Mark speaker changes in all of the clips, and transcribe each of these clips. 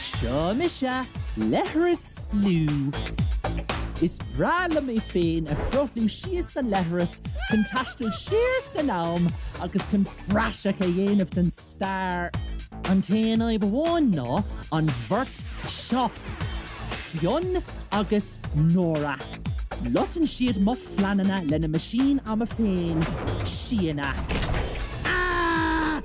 Speaker 1: Seo mise, Leithreas Lú. Is breá liom mé féin a shruthlú síos an leithreas chun taisteal siar san am agus chun praiseach a dhéanamh den stair. An t-aon fhadhb amháin ná an bheirt seo, Fionn agus Nóra. Loiteann siad mo phleananna lena meaisín ama féin, Siana.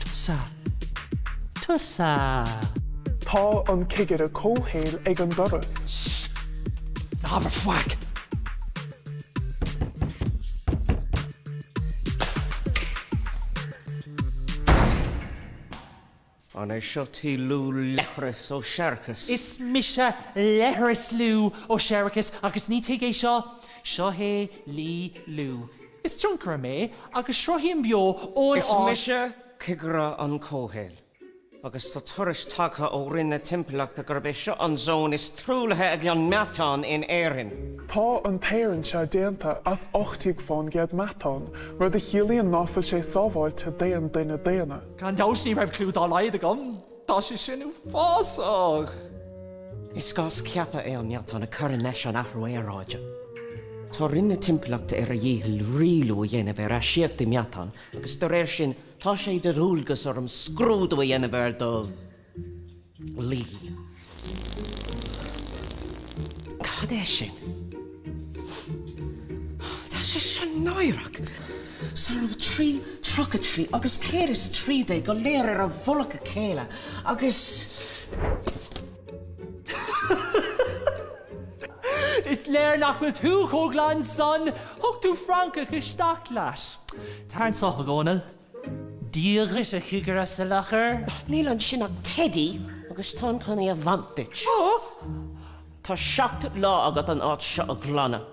Speaker 1: Tusa.
Speaker 2: Tusa. Tá an cigire comhshaoil ag an doras.
Speaker 1: Sss! Ná habair faic!
Speaker 3: An é seo tigh Lú Leithreas Ó Séarachais? Is mise
Speaker 1: Leithreas Lú Ó Séarachais agus ní tigh é seo. Seo é Lí Lú. Is tionchaire mé agus sruthaím beo ón... Is
Speaker 3: mise Cigire an Chomhshaoil agus tá tuairisc tagtha ó Roinn na Timpeallachta gurb é seo an zón is truaillithe ag an meatán in Éirinn. Tá
Speaker 2: an t-aer anseo déanta as ocht deag fán gcéad meatán, rud a chiallaíonn ná fuil sé sábháilte d'aon duine daonna. Gan dabht ní raibh cliú
Speaker 1: dá laghad agam. Tá sé sin
Speaker 3: uafásach! Is gás ceaptha é an meatán a chuireann leis an athrú aeráide. Tá Roinn na Timpeallachta ar a dhícheall rialú a dhéanamh ar astaíochtaí meatáin agus de réir sin tá sé de dhualgas orm scrúdú a dhéanamh ar do lí. Cad é sin? Tá sé seo náireach! Sárú trí, tríocha trí agus céad is trí déag go léir ar a mhullach a chéile
Speaker 1: agus. Is léir nach bhfuil tú chomh glan san! Thug tú francach isteach leat. Tar anseo, a Dhónaill. Dia dhuit a Chigire Salachar. Níl ansin
Speaker 3: ach teidí agus táim chun é a bhaint duit. Tá seacht lá agat an áit seo a ghlanadh.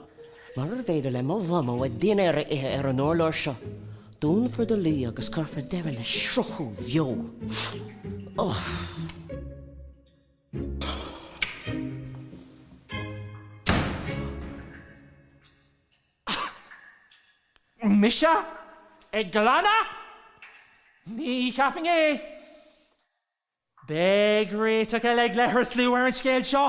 Speaker 3: Murarbh fhéidir le mo mhamó a dinnéar a ithe ar an urlár seo, dúnfar do lí agus cuirfear deireadh le sruthú bheo.
Speaker 1: Ach mise ag glanadh? Ní cheapfainn é. Beidh réiteach eile ag Leithreas Lú ar an scéal seo.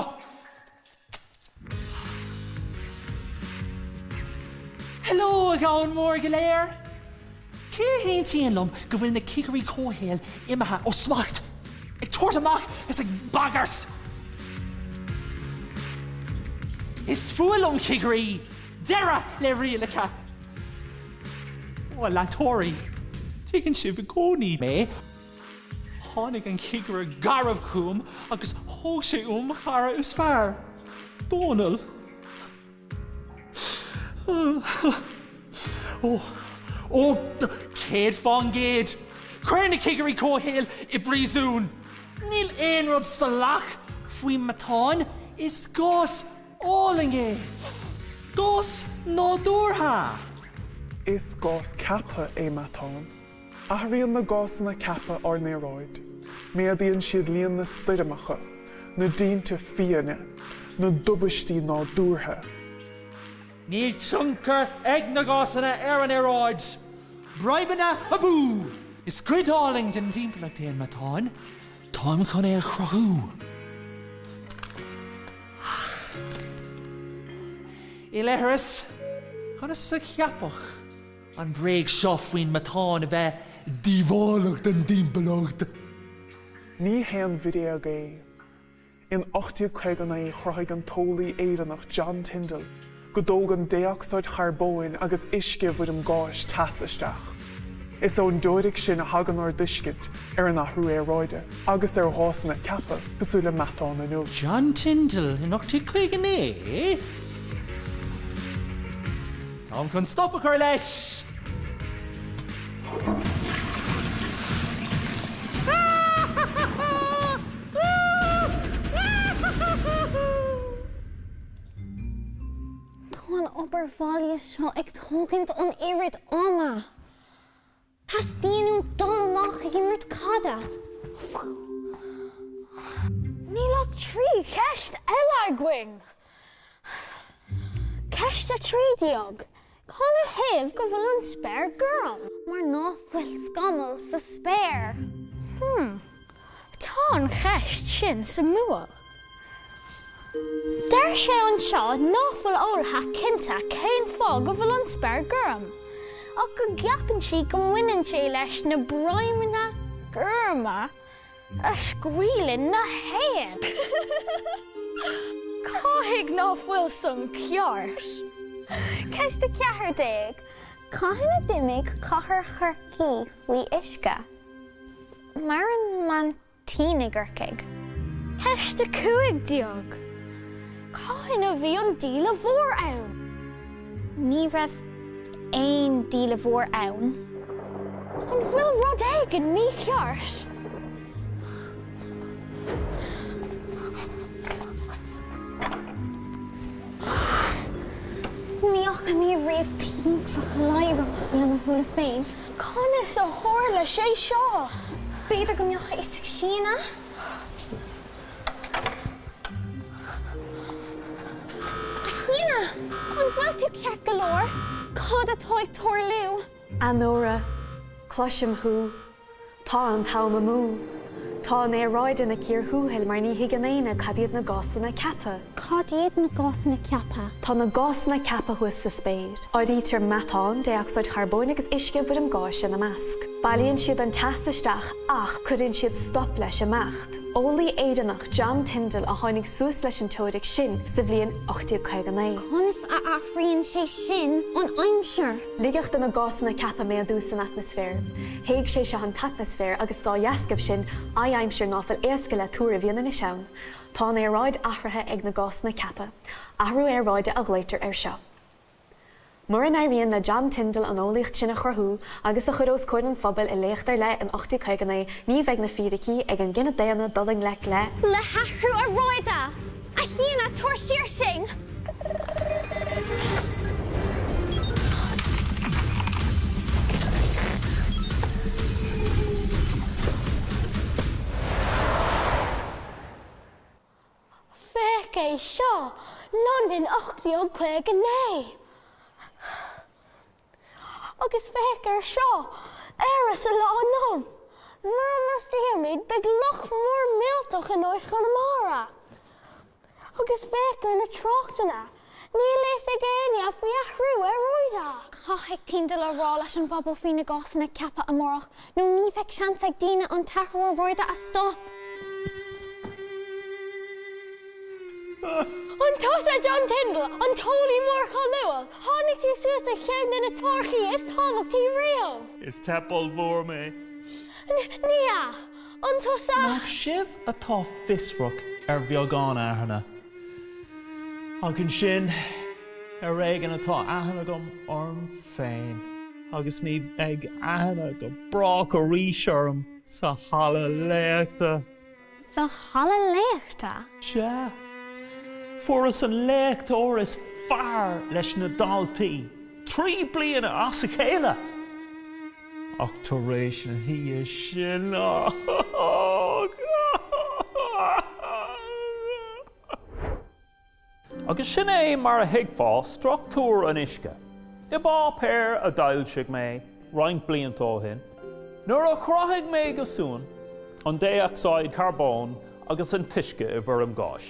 Speaker 1: Hello a dhomhan mhór go léir! Cé a aontaíonn liom go bhfuil na cigirí comhshaoil imithe ó smacht, ag tabhairt amach is ag bagairt? Is fuath liom cigirí! Deireadh le rialacha! Ó, a leantóirí, tuigeann sibh i gcónaí mé. Tháinig an cigire garbh chugam agus thóg sé uaim mo chara is fearr, Dónall. Ó, ó, céad fán gcéad, cuir na cigirí comhshaoil i bpríosún. Níl aon rud salach faoin meatán, is gás álainn é. Gás nádúrtha.
Speaker 2: Is gás ceaptha é meatán. Athraíonn na gásanna ceaptha ár n-aeráid. Méadaíonn siad líon na stoirmeacha, na dtinte fiáine, na dtubaistí nádúrtha.
Speaker 1: Níl tionchar ag na gásanna ar an aeráid. Broimeanna abú! Is cuid álainn den dtimpeallacht é an meatán. Táim chun é a chruthú. I leithreas? Conas a ceapadh? An bhréag seo faoin meatán a bheith díobhálach don
Speaker 2: dtimpeallacht. Ní haon bhréag é. In 1859 chruthaigh an t-eolaí Éireannach John Tyndall go dtógann dé-ocsáid charbóin agus uisce i bhfoirm gáis teas isteach. Is ón dteoiric sin a thagann ár dtuiscint ar an athrú aeráide agus ar ghásanna ceaptha cosúil le meatán inniu. John Tyndall
Speaker 1: in 1859. Táim chun stop a chur leis!
Speaker 4: Tá an obair bhaile seo ag tógaint an oiread ama. Teastaíonn uaim dul amach ag imirt caide. Níl ach trí cheist eile againn. Ceist a trí déag, Cad ina thaobh go bhfuil an spéir gorm? Mar ná fuil scamall sa spéir. Hum.
Speaker 5: Tá an cheist sin suimiúil. Deir sé anseo nach bhfuil eolaithe cinnte cén fáth go bhfuil an spéir gorm, ach go gceapann siad go mbaineann sé leis na broimeanna gorma a scaoileann na héin. Caithfidh ná fuil san ceart!
Speaker 4: Ceist 14, Cathain a d'imigh cathair Chorcaí faoi uisce? Maireann man tinn i gCorcaigh. Ceist
Speaker 5: 15. Cathain a bhí an Díle Mhór ann? Ní raibh
Speaker 4: aon Díle Mhór ann. An
Speaker 5: bhfuil rud éigin
Speaker 4: mícheart? Ní fhaca mé riamh tintreach ladhrach le mo shúile féin. Conas
Speaker 5: a tharla sé seo? B'fhéidir
Speaker 4: go mbeadh fhios ag Síona. A Shíona, an bhfuil tú ceart go leor? Cad atá ag tarlú? A
Speaker 6: Nóra, cloisim thú. Tá an t-am amú. Tá an aeráid ina cíor thuathail mar ní thuigeann éinne cad iad na gásanna ceaptha. Cad iad
Speaker 4: na gásanna ceaptha? Tá na
Speaker 6: gásanna ceaptha thuas sa spéir. Áirítear meatán, dé-ocsaíd charbóin agus uisce i bhfoirm gáis ina measc. Bailíonn siad an teas isteach ach cuireann siad stop leis imeacht. Eolaí Éireannach, John Tyndall, a tháinig suas leis an teoiric sin sa bhliain 1859. Conas
Speaker 4: a athraíonn sé sin an aimsir? Ligeadh do na
Speaker 6: gásanna ceaptha méadú san atmaisféar. Théigh sé seo an t-atmaisféar agus dá dheascaibh sin, adhaimsir ná fuil éasca le tuar a bhíonn anois ann. Tá an aeráid athraithe ag na gásanna ceaptha athrú aeráide a ghlaotar air seo. Mura n-éiríonn le John Tyndall an eolaíocht sin a chruthú agus a chur os comhair an phobail i léacht ar leith in 1859 ní bheidh na fíricí ag an gcine daonna dul i ngleic le le
Speaker 4: hathrú aeráide! A Shíona, tabhair siar sinn!
Speaker 5: Féach é seo, Londain 1859! Agus féach air seo, Éire sa lá inniu! Mura mbrostaímid beidh loch mór millteach in áit Chonamara! Agus féach ar na tráchtanna! Níl fhios ag éinne faoi athrú aeráide. Caithfidh
Speaker 4: Tyndall a rá leis an bpobal faoi na gásanna ceaptha amárach nó ní bheidh seans ag daoine an t-athrú aeráide a stop.
Speaker 5: An tusa John Tyndall, an t-eolaí mór cáiliúil? Tháinig tú suas ar cheann de na teoiricí is tábhachtaí riamh! Is teip ollmhór
Speaker 7: mé. Ní
Speaker 5: hea. An tusa? Nach sibh
Speaker 7: atá fiosrach ar bheagán aithne? Ach ansin, ar éigean atá aithne agam orm féin. Agus ní bheidh aithne go brách arís orm sa halla léachta. Sa
Speaker 4: halla léachta? Sea.
Speaker 7: Fuaireas an léachtóir is fearr leis na daltaí, trí bliana as a chéile! Ach tar éis na hoíche sin. Agus sin é mar a thuigfeá struchtúr an uisce. I bpáipéar a d'fhoilsigh mé roinnt blianta ó shin, nuair a chruthaigh mé go súnn an dé-ocsaíd charbóin agus an t-uisce i bhfoirm gáis,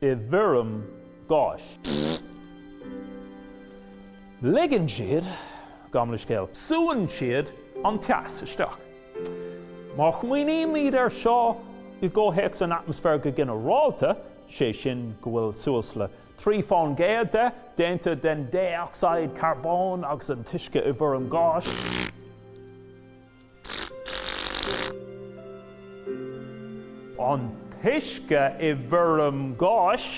Speaker 7: i bhfoirm gáis. Ligeann siad gan bhréag, súnn siad an teas isteach. Má smaoinímid air seo i gcomhthéacs an atmaisféir go ginearálta, sé sin go bhfuil suas le 3% de déanta den dé-ocsaíd charbóin agus an t-uisce i bhfoirm gáis, An t-uisce i bhfoirm gáis.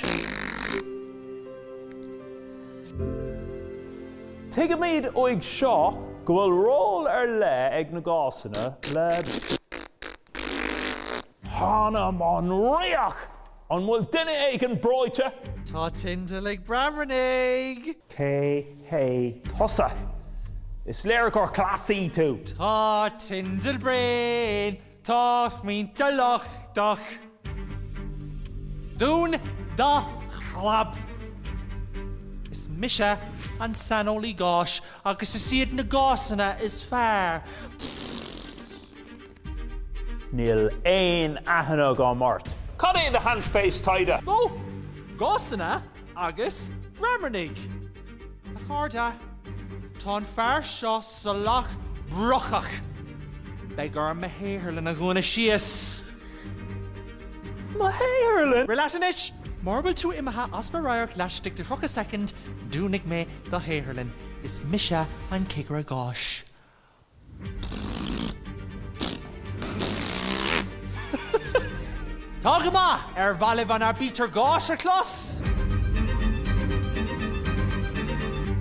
Speaker 7: Tuigimid uaidh seo go bhfuil ról ar leith ag na gásanna le. Th'anam 'on riach! An bhfuil duine éigin breoite? Tá
Speaker 8: Tindall
Speaker 7: ag
Speaker 8: bramarnaigh! Cé hé
Speaker 7: tusa? Is léir gur Cleasaí tú! Tá Tindall
Speaker 8: bréan! Tá Tindall lochtach! Dún do chlab! Is mise an saineolaí gáis agus is iad na gásanna is fearr.
Speaker 7: Níl aon aithne agam ort. Cad é do shainspéis taighde?
Speaker 8: Ó! Gásanna agus Bramarnaigh! A chairde, tá an fear seo salach brocach. Beidh orm mo shaotharlann a dhúnadh síos.
Speaker 7: Mo shaotharlann? Rith leat
Speaker 8: anois! Mura bhfuil tú imithe as mo radharc laistigh de thríocha second, dúnfaidh mé do shaotharlann. Is mise an Cigire Gáis. Tá go maith! Ar bhailigh an aibítir gháis
Speaker 7: leis?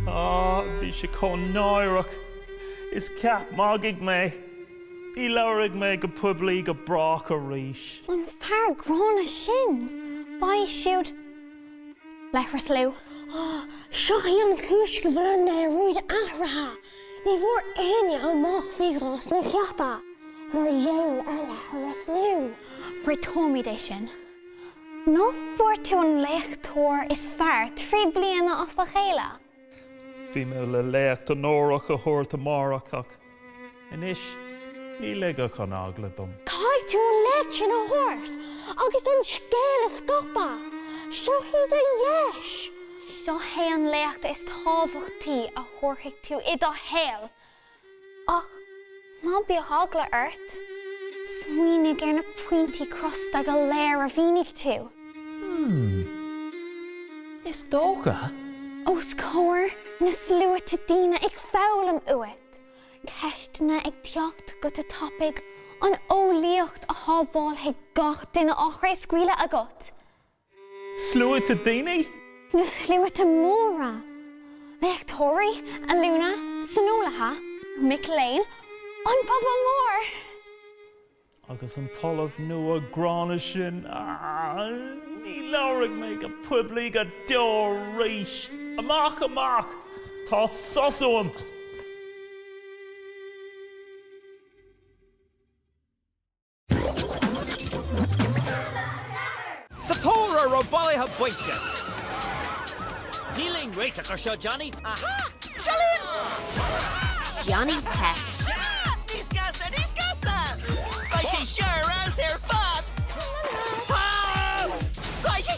Speaker 7: Á, bhí sé chomh náireach. Is ceap magaidh mé. Ní labhróidh mé go poiblí go brách arís. An
Speaker 4: fear gránna sin, b'é siúd Leathras Lú. Á, seo
Speaker 5: í an chúis go bhfuil an rud athraithe. Ní bhfaighidh éinne amach faoi ghásanna ceaptha mar gheall ar leithreas nó. Réiteoimid é
Speaker 4: sin. Nach bhfuair tú an léachtóir is fearr trí bliana as a chéile? Bhí
Speaker 7: mé le léacht onórach a thabhairt amárach ach anois ní ligfeadh an eagla dom. Caithfidh tú an léacht
Speaker 5: sin a thabhairt agus an scéal a scaipeadh. Seo í do dheis. Seo
Speaker 4: é an léacht is tábhachtaí a thabharfaidh tú i do shaol! Ach ná bíodh eagla ort, smaoinigh ar na pointí crosta go léir a mhínigh tú. Hmm.
Speaker 7: Is dócha.
Speaker 4: Os comhair na sluaite daoine ag foghlaim uait, ceisteanna ag teacht go tapaidh, an eolaíocht a shábhálfaidh gach duine á chraobhscaoileadh agat.
Speaker 7: Sluaite daoine? Nó sluaite
Speaker 4: móra? Léachtóirí, ollúna, saineolaithe, mic léinn, an pobal mór?
Speaker 7: Agus an t-ollamh nua gránna sin, ní labharfaidh mé go poiblí go deo arís. Amach, amach! Tá sos uaim!
Speaker 9: Sa tóra raibh bailithe bainte. Níl aon réiteach ar seo, Johnny. Aha! Sealúin!
Speaker 10: Johnny Test. Sea! Níos gasta, níos gasta! Beidh sé seo ar fheabhas ar fad! Tá! Crikey!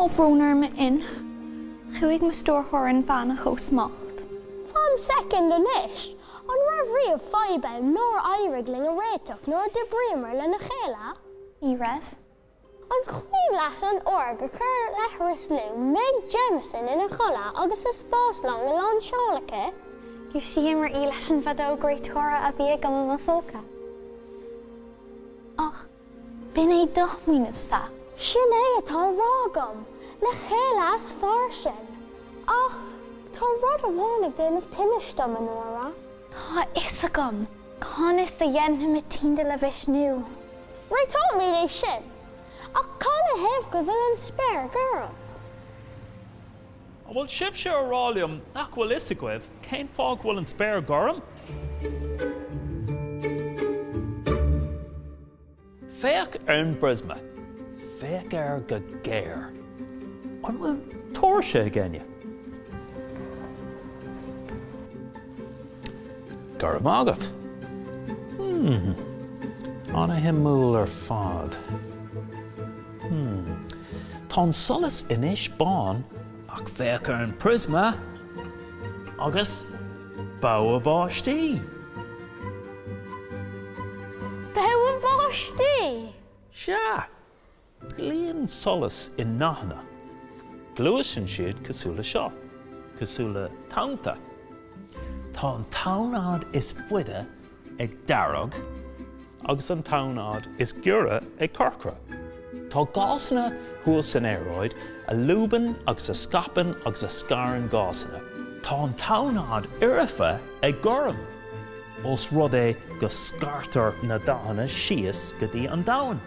Speaker 4: Tá brón orm a Fhinn. Chuaigh mo stiúrthóir inmheánach ó smacht. Fan
Speaker 5: soicind anois! An raibh riamh fadhb ann nár éirigh linn a réiteach nuair a d'oibríomar lena chéile? Ní
Speaker 4: raibh.
Speaker 5: An cuimhin leat an uair gur chuir leithreas Lou Meg Jemison ina chodladh agus an spáslong faoi lán seoil aici? Dhúisíomar
Speaker 4: í leis an bhfeadóg réiteora a bhí agam i mo phóca. Ach b'in é do smaoineamhsa. Sin é
Speaker 5: atá á rá agam le chéile is fearr sinn. Ach tá rud amháin ag déanamh tinnis dom, a Nóra. Tá a
Speaker 4: fhios agam conas a dhéanfaimid Tinder a mhisniú. Réiteoimid
Speaker 5: é sin. Ach cá 'na thaobh go bhfuil an spéir gorm?
Speaker 7: An bhfuil sibhse a rá liom nach bhfuil a fhios agaibh cén fáth go bhfuil an spéir gorm? Féach ar an bpriosma. Féach air go géar. An bhfuil tóirse ag éinne? Go raibh maith agat. Hmm. An-shuimiúil ar fad. Hmm. Tá an solas anois bán ach féach ar an priosma agus bogha báistí.
Speaker 5: Bogha báistí?
Speaker 7: Sea. Luíonn solas i ndathanna. Gluaiseann siad cosúil le seo, cosúil le tonnta. Tá an tonnfhad is faide ag dearg agus an tonnfhad is giorra ag corcra. Tá gásanna thuas san aeráid a lúbann agus a scaipeann agus a scarann gásanna. Tá an tonnfhad fhoirfe ag gorm, ós rud é go scartar na dathanna síos go dtí an domhan,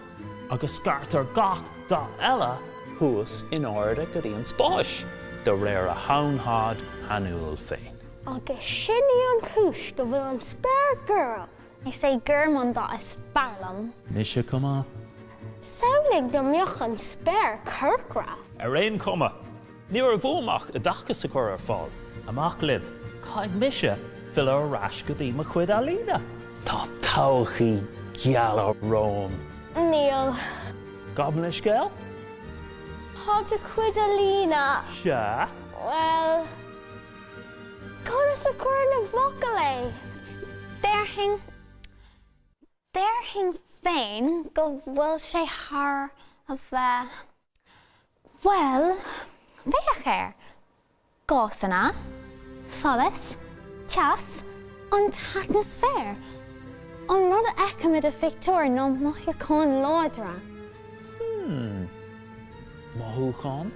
Speaker 7: agus scartar gach dath eile thuas in airde go dtí an spáis, de réir a thonnfhad shainiúil féin. Agus
Speaker 5: sin í an chúis go bhfuil an spéir gorm. Is é
Speaker 4: gorm an dath is fearr liom. Mise chomh
Speaker 7: maith. Samhlaigh
Speaker 5: dá mbeadh an spéir corcra. Ar aon chuma,
Speaker 7: ní raibh uaim ach oideachas a chur ar fáil. Amach libh, caithfidh mise filleadh ar ais go dtí mo chuid ealaíne. Tá todhchaí geal romham. Níl.
Speaker 5: Gabh mo
Speaker 7: leithscéal?
Speaker 5: Tá do chuid ealaíne. Sea?
Speaker 7: Bhuel.
Speaker 5: Conas a chuirfinn i bhfocail é?
Speaker 4: Déarfainn, déarfainn féin go bhfuil sé thar a bheith, bhuel, féach air, gásanna, solas, teas, an t-atmaisféar, an rud a fheicim i do phictiúr nó mothúcháin láidre. Hmm.
Speaker 7: Mothúcháin?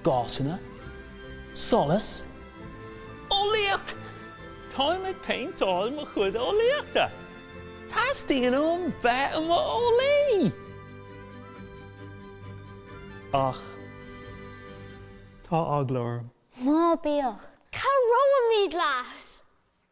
Speaker 7: Gásanna, solas, eolaíocht! Táim ag péinteáil mo chuid eolaíochta! Teastaíonn uaim bheith i mo eolaí! Ach tá eagla orm. Ná bíodh!
Speaker 4: Cabhróimid
Speaker 5: leat!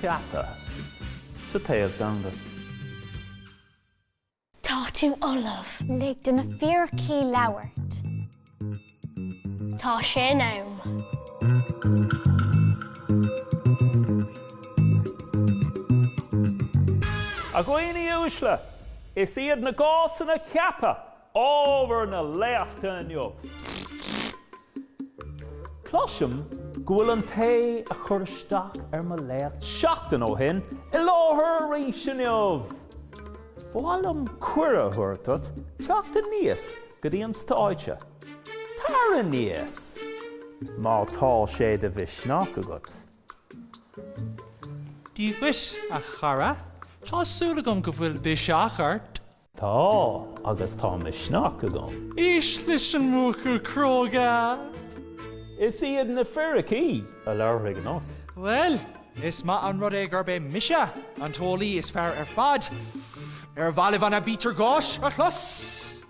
Speaker 7: Ceaptha sa téamh
Speaker 5: domhanda. Tá tú ullamh! Lig do na
Speaker 4: fíricí labhairt.
Speaker 5: Tá sé in am.
Speaker 7: A dhaoine uaisle, is iad na gásanna ceaptha Ábhar na léachta inniu. Cloisim go bhfuil an té a chuir isteach ar mo léacht seachtain ó shin i láthair arís inniu! Ba mhaith liom cuireadh a thabhairt duit teacht aníos go dtí an stáitse. Tar aníos má tá sé de mhisneach agat!
Speaker 8: Dia dhuit, a chara. Tá súil agam go bhfuil biseach ort.
Speaker 7: Tá, agus tá misneach agam. Éist leis
Speaker 8: an mbuachaill
Speaker 7: cróga! Is iad na fíricí a labharfaidh anocht. Bhuel, is
Speaker 8: maith an rud é gurb é mise an t-eolaí is fearr ar fad. Ar mhaith libh an Aibítir Gháis a chlos?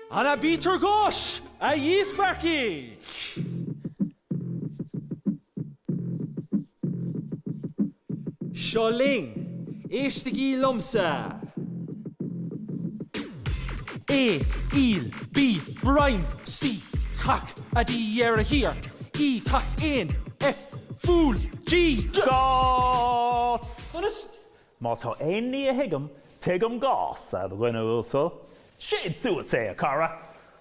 Speaker 8: An Aibítir Gháis, a dhíspeagthaigh! Seo linn, éistigí liomsa! A, aol, B, broim, C, cac, A, D, dheireadh thiar, E, cac éin, F, fool, G,
Speaker 7: gás! Conas?
Speaker 8: Má tá
Speaker 7: aon ní a thuigim, tuigim gás, a dhuine uasail. Séid suas é, a chara!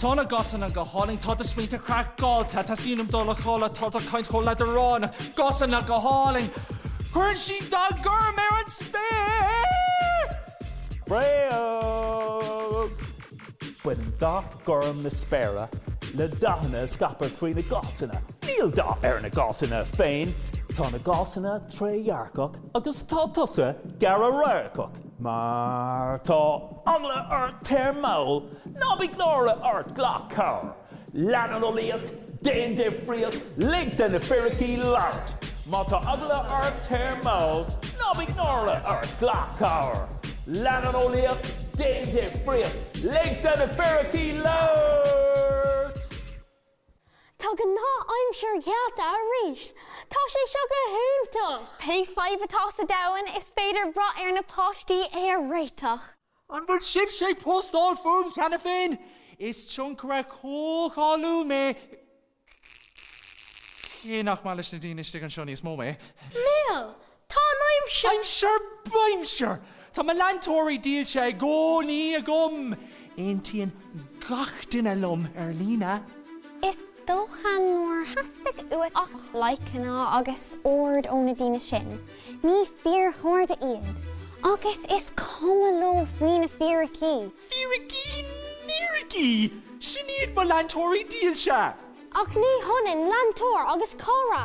Speaker 8: Tá na gásanna go hálainn, tá do smaointe craiceáilte, teastaíonn uaim dul a chodladh, tá do chaint chomh leadránach, gásanna go hálainn, cuireann siad dath gorm ar an spéir! Bréag!
Speaker 7: Baineann dath gorm na spéire le dathanna a scaipeadh trí na gásanna. Níl dath ar na gásanna féin, tá na gásanna trédhearcach agus tá tusa gearr-radharcach, má tá eagla ort téir mall! Ná bíodh náire ort, glac cabhair, lean an eolaíocht, déan difríocht, lig do na fíricí labhairt. Má tá eagla ort, téir mall, ná bíodh náire ort, glac cabhair, lean an eolaíocht, déan difríocht, lig do na fíricí
Speaker 5: labhairt. Tá gnáth-aimsir geallta arís! Tá sé seo go hiontach! Pé fadhb atá
Speaker 4: sa domhan, is féidir brath ar na páistí é a réiteach! An
Speaker 8: bhfuil sibhse ag postáil fúm cheana féin? Is tionchaire comhcháiliúil mé, cé nach maith leis na daoine istigh anseo níos mó mé.
Speaker 5: Bhuel, Tá an aimsir! Aimsir
Speaker 8: baimsir! Tá mo leantóirí dílse i gcónaí agam. Aontaíonn gach duine liom ar líne. Is
Speaker 4: dócha nár theastaigh uait ach likeanna agus aird ó na daoine sin, ní fíorchairde iad, agus is cuma leo faoi na fíricí.
Speaker 8: Fíricí níricí! Sin iad mo leantóirí dílse! Ach ní
Speaker 5: hionann leantóir agus cara.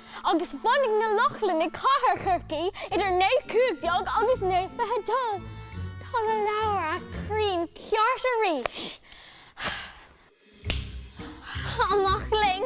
Speaker 5: agus bhunaigh na Lochlannaigh cathair Chorcaí idir 915 agus 922. Tá na leabhair cruinn ceart arís!
Speaker 4: Amach linn!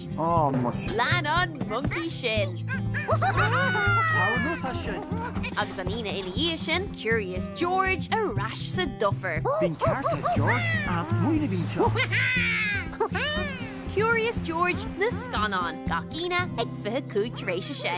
Speaker 11: Ah
Speaker 10: muis. Lean an
Speaker 11: moncaí sin!
Speaker 10: Tar anuas as sin! Agus an Aoine
Speaker 11: ina dhiaidh sin, Curious George ar ais sa dufair. Bhí'n ceart a'd
Speaker 10: George, an-smaoineamh a bhí anseo.
Speaker 11: Curious George na scannáin, gach Aoine ag 25 tar éis a sé.